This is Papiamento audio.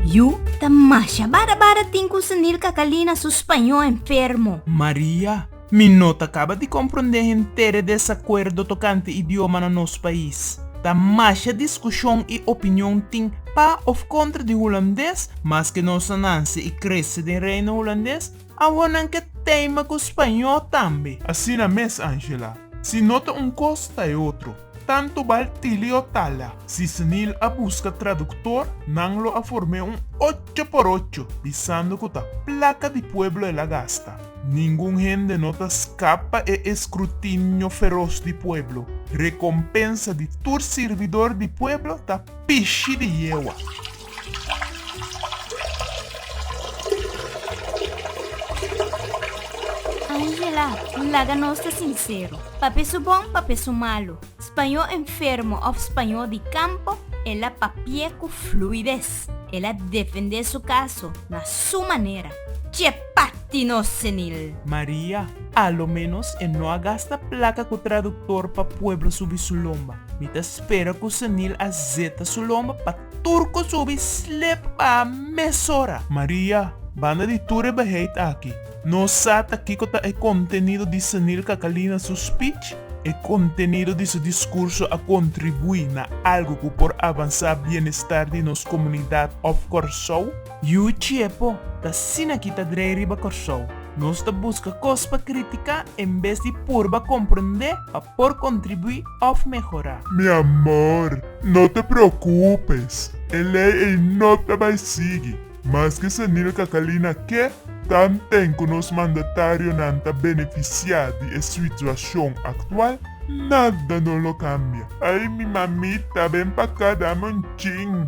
Yu ta masha bara bara tin cu Sunil Cacalina su spaño enfermo. Maria, Mi no ta caba di comprende henter e desacuerdo tocante idioma na nos pais. Ta masha discusion y opinion tin pa of contra di Hulandes, maske nos a nance y crece den Reino Hulandes, Awor nan ke teima ku spañó tambe. Asina mes, Angela. Si no ta un kos, ta e otro. Tantu bal tili o tala. Si Snil a buska traduktor, nan lo a form'é un ocho por ocho, bisando ku ta plaka di pueblo el a gasta. Ningun hende no ta skapa e eskrutinio feros di pueblo. Rekompensa di tur sirbidor di pueblo ta pishi di yewa. Angela, N laga nos ta sinsero. Papia su bon, papia su malu. Spañó enfermo òf spañó di kampo, el a papié ku fluides. El a defendé su kaso na su manera. Tje pati nos senil! Maria, A lo ménos e no a gasta plaka ku traduktor pa pueblo subi su lomba. Mi ta spera ku senil a zeta su lomba pa. tur ku subi slep baha mesora. Maria, Banda di tur e beheid aki, no sa ta kiko ta e kontenido di Senil Kakalina su spich? E kontenido di su diskurso a kontribuí na algu ku por avansá bienestar di nos komunidat òf Kòrsou? Yu Chiepo ta asina ki ta drei riba Kòrsou. Nos ta buska kos pa kritiká en bes di purba komprendé pa por kontribuí òf mehorá. Mi amor, no ta preokupes. E lei ei no ta bai sigui. Maske senil Kakalina ke, tanten ku nos mandatarionan ta benefisiá di e situashon aktual, nada no lo kambia. Ai mi mamita, ben pa aká dame un chin.